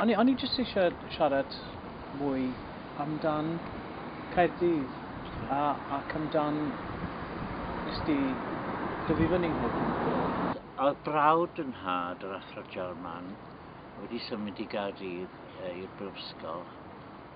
O'n i, o'n i jyst eisiau siarad mwy amdan Caerdydd a, ac amdan nes di dyfu fyny hefyd. Oedd brawd yn nhad, yr Athro Jarman, wedi symud i Gaerdydd e, i'r brifysgol,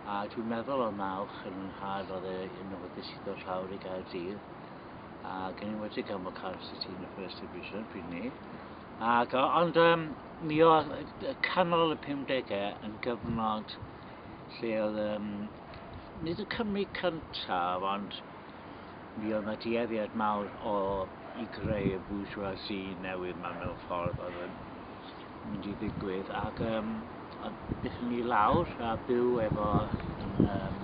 a dwi'n meddwl oedd nawch yn nhad oedd e yn awyddus i ddod lawr i Gaerdydd. Ac ni wedi cael fy Cardiff City yn y First Division pryd ni. Ac, ond um, mi oedd canol y 50au yn gyfnod lle oedd, um, nid y Cymru cyntaf, ond mi oedd yna dueddiad mawr o i greu y bourgeoisie newydd ma mewn ffordd oedd yn mynd i ddigwydd ac um, byddwn ni lawr a byw efo yn, um,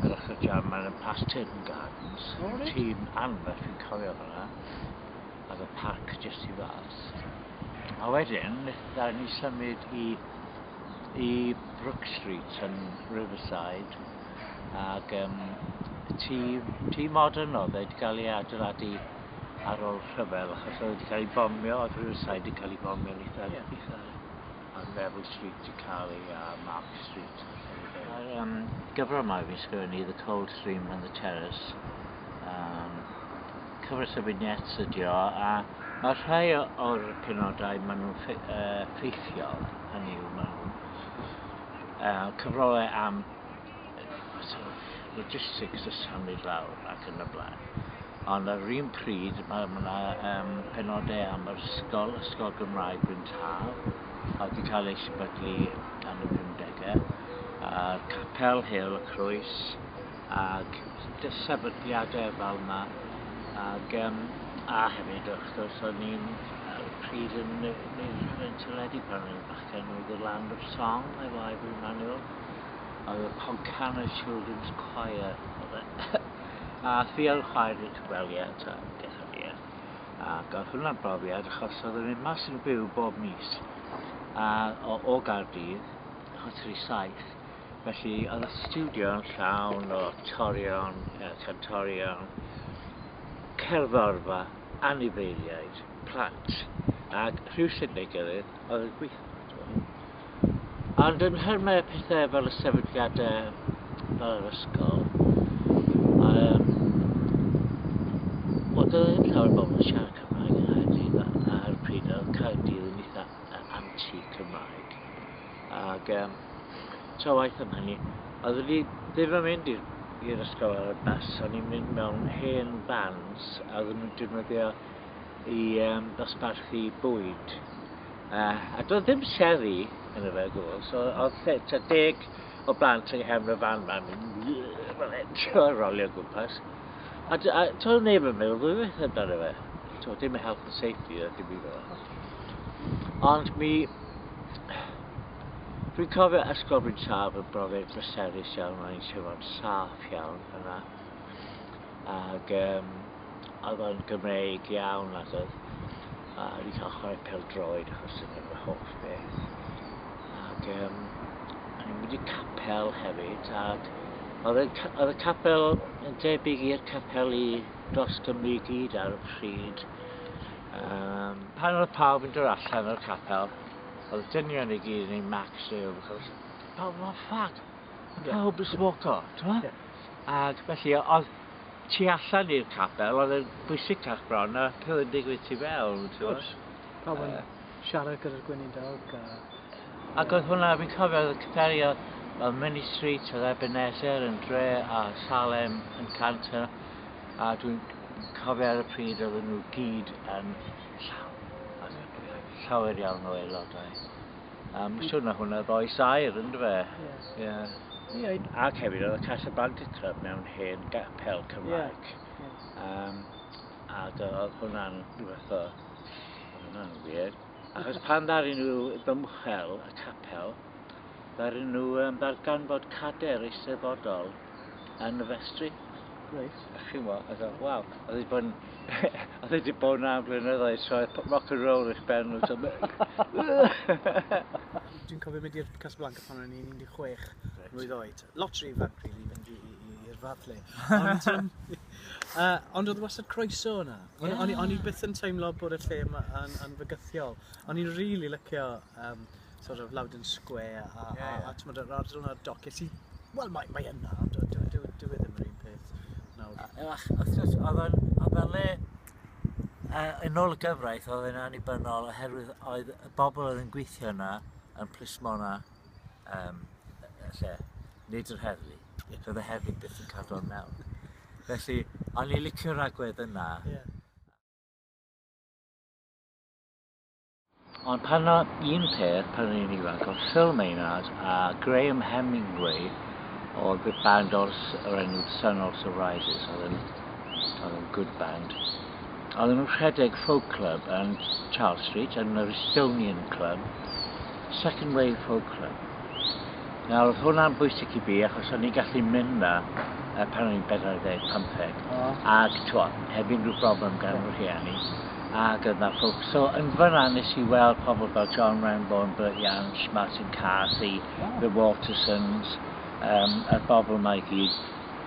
yr ochr jam mae'n y Past Turton Gardens oh, right. tîm anferth fi'n cofio hwnna ac y parc jyst i fas a wedyn ddawn ni symud i i Brook Street yn Riverside ac um, tîm, tîm modern oedd wedi cael ei adeiladu ar ôl rhyfel achos oedd wedi cael ei bomio, oedd Riverside wedi cael ei bomio yn eitha yeah. uchel. A Bevel Street wedi cael ei a Mark Street. A'r um, gyfrol mae fi'n sgrifennu, The Cold Stream and the Terrace. Um, cyfres o vignettes ydi o, a mae rhai o'r penodau maen nhw'n ffe, uh, ffeithiol, hynny yw maen nhw'n uh, cyfrolau am logistics y symud lawr ac yn y blaen. Ond ar yr un pryd, mae yna um, penodau am yr ysgol, ysgol Gymraeg Bryn Tal, a wedi cael ei sefydlu gan y 50au, a'r capel Hel y Croes, ac sefydliadau fel yma. Ac, um, a hefyd, wrth gwrs, o'n i'n pryd yn neud yn teledu pan o'n i'n bachgen oedd y Land of Song efo Ivan Manuel Oedd y Pontcanna Children's Choir, oedd e. a fi ar y chwaer i'r cyfweliad ta, detholiad. Ac oedd hwnna'n brofiad achos oedd yn mynd mas yn y byw bob mis a, o, o Gardydd, achos yr i saith. Felly oedd y studio yn llawn o torion, e, cantorion, cerddorfa, anifeiliaid, plant. Ac rhywsut neu gilydd oedd yn gweithio. Ond yn nhermau pethau fel y sefydliadau fel yr ysgol, um, oedd e ddim llawer o bobl yn siarad Cymraeg yn Nghaerdydd a'r pryd oedd Caerdydd yn eitha anti-Cymraeg. Ac um, tra waith am hynny, oedd wedi ddim yn mynd i'r i'r ysgol ar y bus, o'n i'n mynd mewn hen fans a oedden nhw'n defnyddio i um, ddosbarthu bwyd. A, a doedd ddim seddi yn y fe gwbl, so oedd lle, ta deg o blant yng nghefn y fan ma'n mynd, fel hyn, trio rolio gwmpas. A, a toedd neb yn meddwl ddwywaith amdano fe. Toedd dim health and safety, a dim i fel. Ond mi, Dwi'n cofio ysgol fi'n saf yn brofiad bryserus iawn, o'n i'n sefon saff iawn yna. Ac um, oedd o'n Gymreig iawn ac oedd A fi cael chwarae pêl-droed achos dyna fy hoff beth. Ac um, o'n i'n mynd i capel hefyd, ac oedd y, oedd y capel yn debyg i'r capel i dros Gymru i gyd ar y pryd. Um, pan oedd pawb yn dod allan o'r capel, oedd y dynion i gyd yn ei max e, achos pawb yn ffag, pawb yn smoco, ti'n Ac felly, oedd tu allan i'r capel oedd e'n bwysicach bron na pil yn digwydd tu fewn. Wrth gwrs. Pawb yn siarad gyda'r gweinidog. A... Ac oedd hwnna, fi'n cofio, oedd y cyferio fel Mini Street, oedd Ebenezer yn dre a Salem yn canter. A dwi'n cofio ar y pryd oedd nhw gyd yn llawn. Oedd llawer iawn o aelodau. Am siwr na hwnna ddoi sair, yn dweud. fe? Yes. Yeah. Yeah. Ac hefyd oedd y Casa Blanca Club mewn hen gapel Cymraeg. Yeah. Yes. Um, ac oedd hwnna'n rhywbeth o... Hwnna'n wir. Achos pan ddarin nhw ddymchel y capel, ddarin nhw um, ddarganfod cader eisteddfodol yn y festri. Reit. A chimo, a dweud, waw, oedd wedi bod yn... oedd wedi bod yn am blynyddoedd, so oedd rock and roll eich ben nhw. Dwi'n cofio mynd i'r Casablanca pan o'n i'n 16 mlwydd oed. Lot rhy ifanc, really, fynd i'r fath le. Ond, um, uh, ond oedd wastad croeso yna. Yeah. O'n i byth yn teimlo bod y lle yn, yn fygythiol. O'n i'n rili really lycio um, sort of Loudon Square a yeah, yeah. a t'mod yr ardal yna doce sydd wel mae mae yna ond dyw e, dyw dyw e ddim yr un peth nawr. Ach, wrth gwrs oedd o'n oedd o'n le uh, yn ôl y gyfraith oedd yn annibynnol oherwydd oedd y bobl oedd yn gweithio yna yn plismona um, y lle, nid yr heddlu. Yeah. Doedd y heddlu byth yn cadw o'n mewn. Felly, o'n i licio'r agwedd yna. Yeah. Ond pan na un peth pan o'n i'n ifanc oedd Phil Maynard a Graham Hemingway o The Band Ors o'r enw The Sun Also Rises oedd yn, oedd yn good band. Oedd yn rhedeg folk club yn Charles Street yn yr Estonian Club, Second Wave Folk Club. Nawr oedd hwnna'n bwysig i fi achos o'n i'n gallu mynd na pan o'n i'n 45 ac twa, heb unrhyw broblem gan fy rhieni. a gyda ffowc. So yn fyna nes i weld pobl fel John Renbourn, Bert Jansch, Martin Carthy, The Watersons, um, a'r bobl yma i gyd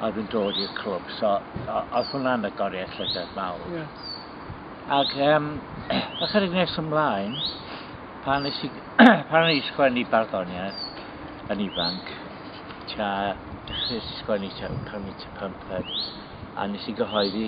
oedd yn dod i'r clwb. So oedd hwnna'n agoriad llygad mawr. Yeah. Ac um, ychydig nes ymlaen, pan nes i, pan nes i sgwennu barddoniaeth yn ifanc, tua, dechrau sgwennu tua 15, a nes i gyhoeddi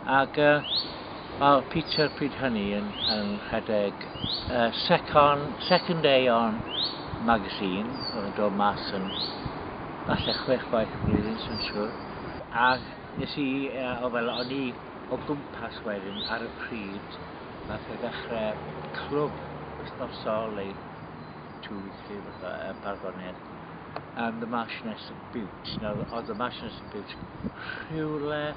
Ac oedd Peter pryd hynny yn rhedeg y Second Aeon magazine, oedd yn dod mas yn falle chwech gwaith y flwyddyn, sy'n siŵr. A nes i, o fel o'n i o gwmpas wedyn ar y pryd, nath e ddechrau clwb wythnosol ei two weekly fatha y barddoniaeth and the Marchioness of Bute. Nawr oedd y Marchioness of Bute rhywle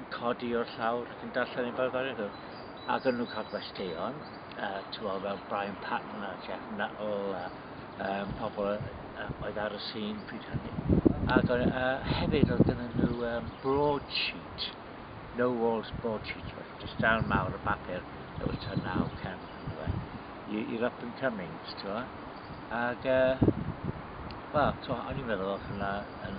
yn codi o'r llawr ac yn darllen ei barddoniaeth nhw. Ac o'n nhw'n cael gwesteion, uh, tyfo, fel Brian Patton a Jeff Nuttall a um, pobl uh, oedd ar y sîn pryd hynny. Ac uh, hefyd oedd gyda nhw um, broadsheet, no walls broadsheet, just darn mawr o bapur, it was to now cam e. You're up and coming, ti'n Ac, uh, wel, o'n i'n meddwl o'ch yna yn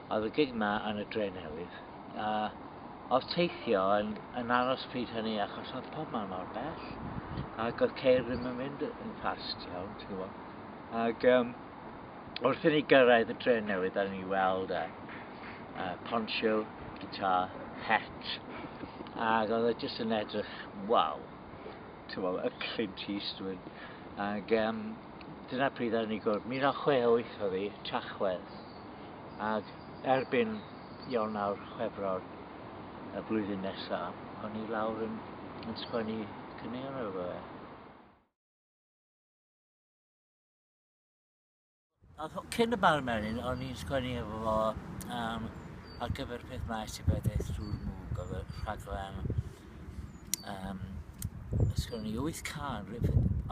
Oedd y gig 'ma yn y Dre Newydd, a oedd teithio yn, yn aros pryd hynny achos oedd pob man mor bell, ac oedd ceir ddim yn mynd yn fast iawn, ti'n gwybod. Ac um, wrth i ni gyrraedd y Dre Newydd, a ni weld e, uh, poncho, guitar, het, ac oedd e jyst yn edrych, waw, ti'n gwybod, y Clint Eastwood. Ac um, dyna pryd ar ni gwrdd, 1968 oedd hi, Tachwedd. Ac erbyn Ionawr, Chwefror y flwyddyn nesaf, o'n i lawr yn, yn sgwennu cynnion ar efo fe. Ac cyn y bar merin, o'n i'n sgwennu efo fo um, ar gyfer peth maes i bedeth drwy'r mwg, oedd y rhaglen Um, os gwrwn ni wyth can,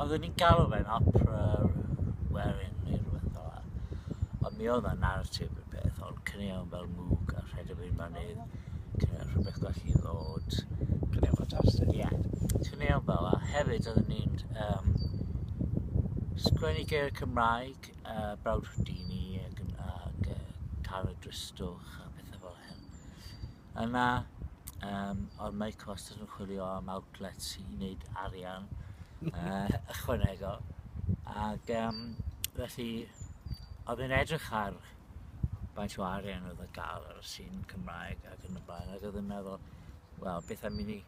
oeddwn ni'n galw fe'n opera werin neu rhywbeth fel la. Ond mi oedd y narratif y peth, ond cynniawn fel mwg a rhedeg i'r mynydd, cynniawn rhywbeth gwell i ddod. Cynniawn ffantastig. Ie, yeah. cynniawn fel la. Hefyd, oeddwn ni'n um, sgwennu geir Cymraeg, uh, Brawd Houdini ac, ac uh, Cara Dristwch a pethau fel hyn. Yna, um, ond mae cost yn chwilio am outlets i wneud arian uh, ychwanegol. Ac um, felly, oedd yn edrych ar faint o arian oedd y gael ar y sîn Cymraeg ac yn y blaen, ac oedd yn meddwl, wel, beth am i ni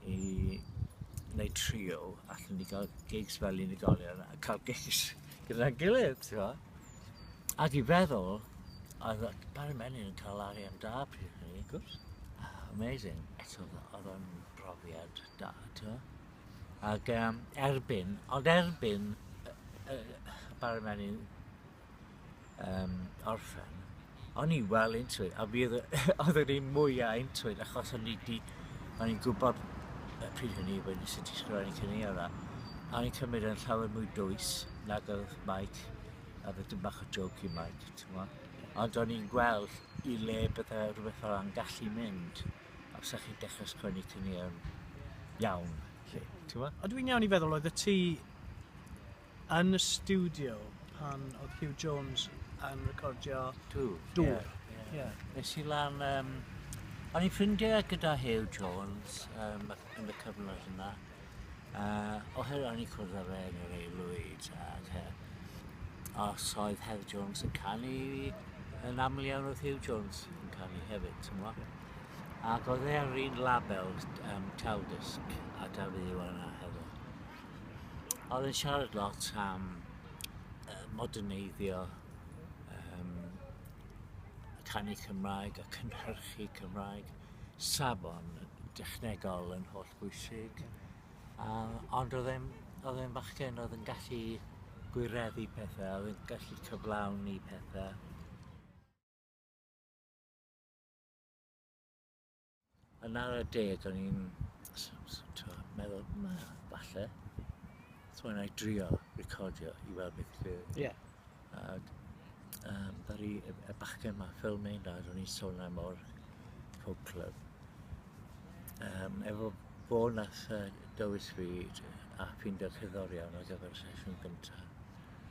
i wneud trio, allan ni gael gigs fel unigolion a cael gigs gyda'n gilydd, ti'n Ac i feddwl, oedd Barry Menyn yn cael arian da pryd hynny. Of course. Amazing. Eto, oedd o'n brofiad da, ti'n Ac um, erbyn, ond erbyn uh, uh, Barry Menyn um, orffen, O'n i'n well into it a fi oedd oedd yr un mwyaf into it achos o'n i di, o'n i'n gwybod y pryd hynny wedyn sut i sgrifennu cynnion a a o'n i'n cymryd yn llawer mwy dwys nag oedd Mike a fe dim bach o joke i Mike, ti'n mo? Ond o'n i'n gweld i le bydde rhywbeth fel yna'n gallu mynd a fysa chi'n dechrau sgwennu cynnion iawn, lle, ti'n mo? A dwi'n iawn i feddwl oedd y ti yn y stiwdio pan oedd Huw Jones yn recordio Dŵr. Dŵr. Yeah, yeah. Yeah. Nes i lan... Um, o'n i'n ffrindiau gyda Huw Jones um, yn y cyfnod yna. Uh, oherwydd o'n i'n cwrdd â fe yn yr aelwyd ac uh, os oedd Huw Jones yn canu yn aml iawn oedd Huw Jones yn canu hefyd, ti'n mwyn? Ac oedd e ar un label um, Taldysg a Dafydd Iwan a hefyd. Oedd yn siarad lot am uh, moderneiddio um, y canu Cymraeg, y cynhyrchu Cymraeg, safon dechnegol yn holl bwysig. Um, ond oedd e'n, oedd e'n fachgen oedd yn gallu gwireddu pethau, oedd yn gallu cyflawni pethau. Yn ar y de, do'n i'n meddwl, ma, falle, so yna i drio recordio i weld beth yw. Ie. Ac um, ddaru y, y bachgen yma, Phil Maynard, o'n i'n sôn am o'r Folk Club. Um, efo fo nath uh, dywys fi a ffindio cerddorion ar gyfer y sesiwn gyntaf.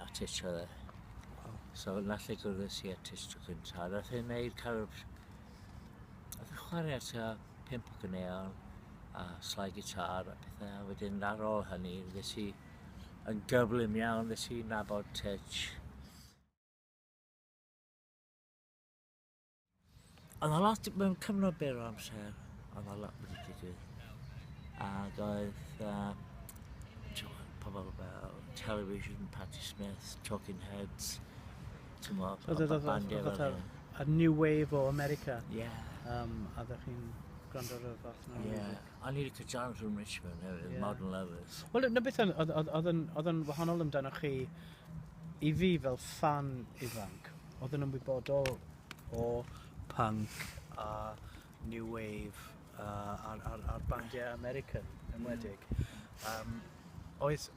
A Tish oedd e. Wow. So nath e gwrdd si a Tish tro cynta. Nath e wneud kind of... Nath e chwarae at a pimp o gynneuon a slai gitar a pethau. A wedyn ar ôl hynny, ddes i yn gyflym iawn, ddes i nabod Tish. Oedd na lot mewn cyfnod byr o amser, oedd na lot wedi digwydd. Ac oedd uh, pobl fel Television, Patti Smith, Talking Heads, ti'n mo, oedd y bandiau fel hyn. A New Wave o America. Yeah. Um, a ddech chi'n gwrando ar y fath yna. Yeah. A ni wedi cytanu rhwng Richmond hefyd, yeah. Modern Lovers. Wel, na beth oedd yn wahanol amdano chi i fi fel fan ifanc Oedd yn ymwybodol o punk a new wave uh, a'r, ar, ar bandiau American yn wedig. Um, oedd,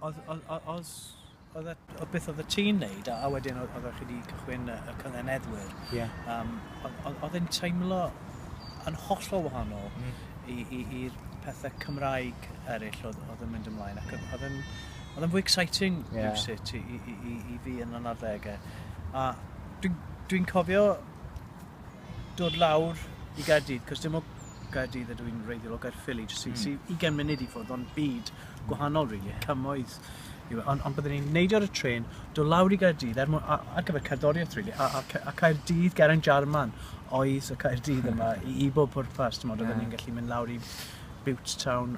oedd, oedd, oedd, oedd, oedd beth oedd y tî'n neud a, a wedyn oedd, oedd chi wedi cychwyn y, y cyngeneddwyr. Yeah. Um, oedd, oedd yn teimlo yn hollol wahanol mm. i'r pethau Cymraeg eraill oedd, oedd yn mynd ymlaen ac oedd yn Oedd yn fwy exciting yeah. rhywsut i, i, i, i fi yn yr adegau. A dwi'n dwi cofio dod lawr i Gaerdydd, cos dim o Gaerdydd ydw i'n reiddiol o Gaerffili, jyst mm. sy'n hmm. ugain munud i ffwrdd, ond byd gwahanol, really, yeah. cymoedd. Ond on byddwn ni'n neidio ar y tren, dod lawr i Gaerdydd, er mwyn, ar gyfer cerddoriaeth, really, a, a, a Caerdydd, Geraint Jarman, oedd y Caerdydd yma i, i bob pwrpas, ti'n modd, oedden ni'n gallu mynd lawr i Bute Town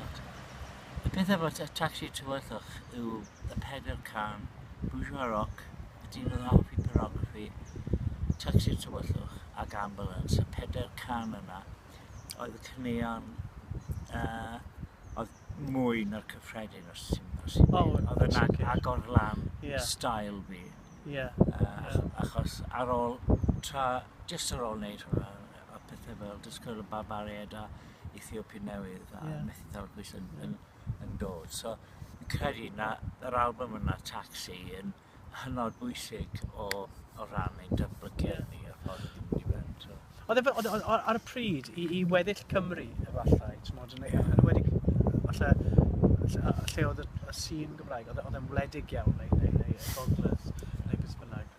Ac y peth efo t- tacsi tywyllwch yw y pedair can, Bourgeois Rock, y dyn oedd yn hoffi pornograffi, tacsi tywyllwch ac ambulance. Y pedair can yna oedd y caneuon uh, oedd mwy na'r cyffredin os ti'n os ti'n oh, oedd yn ag, agor lan yeah. style fi. Yeah. Uh, yeah. Achos ar ôl tra, just ar ôl wneud hwnna, a pethau fel just cael y barbariaid a Ethiopia Newydd a yeah. methu dal pwys yn, yn, yn dod. So, yn credu na yr album yna, Taxi, yn hynod bwysig o, o ran ein datblygiad ni o'r ffordd yn mynd i mewn. So. Oedd e, oedd, oedd, ar y pryd, i, i weddill Cymru, efallai, ti'n modd, yn, yeah. yn wedi, falle, lle oedd y, y sîn Gymraeg, oedd e'n wledig iawn, neu, neu, neu y gogledd, neu beth bynnag.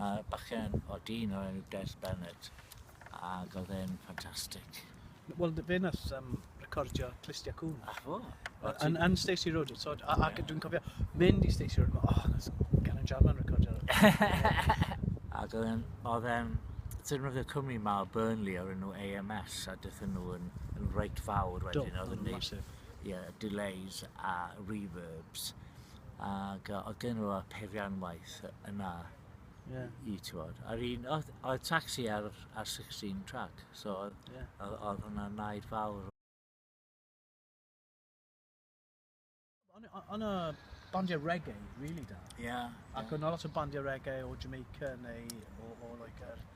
A bachgen o dyn o'r enw Des Bennett, ac oedd e'n ffantastig. Wel, fe nath um, recordio Clistia Cwn. A fo? Yn, yn Stacey Road, so, a, a yeah. dwi'n cofio mynd i Stacey Road, oh, nath Gavin Jarman recordio. ac oedd e'n, oedd e'n, defnyddio cwmni ma o Burnley o'r enw AMS, a dethon nhw yn, yn reit fawr wedyn, oedd yn neud yeah, delays a reverbs. ac oedd gen nhw peirianwaith yna yeah. i, i tywod. A'r un, oedd, oedd taxi ar, ar 16 track, so oedd, yeah. oedd, oedd hwnna naid fawr. Ond y bandiau reggae, really da. Yeah. Ac yeah. o'n lot o bandiau reggae o Jamaica neu o, o like, er,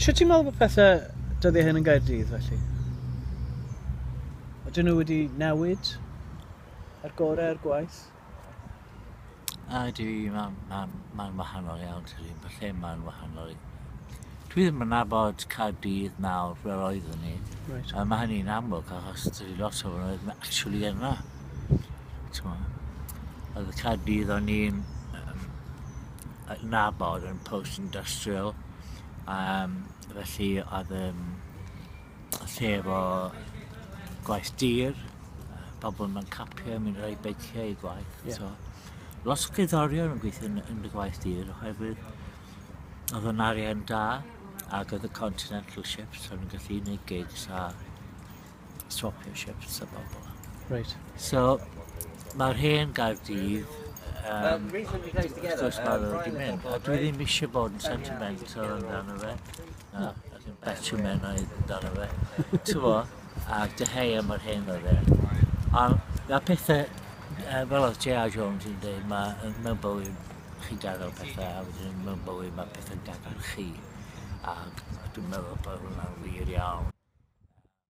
Sut ti'n meddwl bod pethau dyddiau hyn yn Gaerdydd felly? Ydyn nhw wedi newid ar gorau ar gwaith? A dwi, mae'n ma, ma wahanol iawn, tydi, mae lle mae'n wahanol. Dwi ddim yn nabod Caerdydd nawr fel oedd ni. Right. A mae hynny'n amlwg achos tydi lot o fan oedd actually yna. Oedd y Caerdydd o'n i'n adnabod yn post-industrial yym felly oedd yym lle efo gwaith dir yy pobol mewn capiau mynd ar eu beiciau i gwaith... Ie. ...so lot o gerddorion yn gweithio yn yn dy gwaith di oherwydd odd o'n arian da ag odd y continental shifts o'n i'n gallu neud gigs a swopio shifts a bobl. Reit. So, mae'r hen Gaerdydd, um, wrth gwrs mae nhw wedi mynd, a dwi ddim eisiau bod yn sentimental amdano fe, na, ac yn betio menau amdano fe, ti'n fo, a dyheu am yr hen oedd e. A mae pethau, uh, fel oedd J.R. Jones yn dweud, mae mewn bywyd chi'n gadael pethau, a wedyn mewn bywyd mae pethau'n gadael chi. Ac dwi'n meddwl bod hwnna'n wir iawn.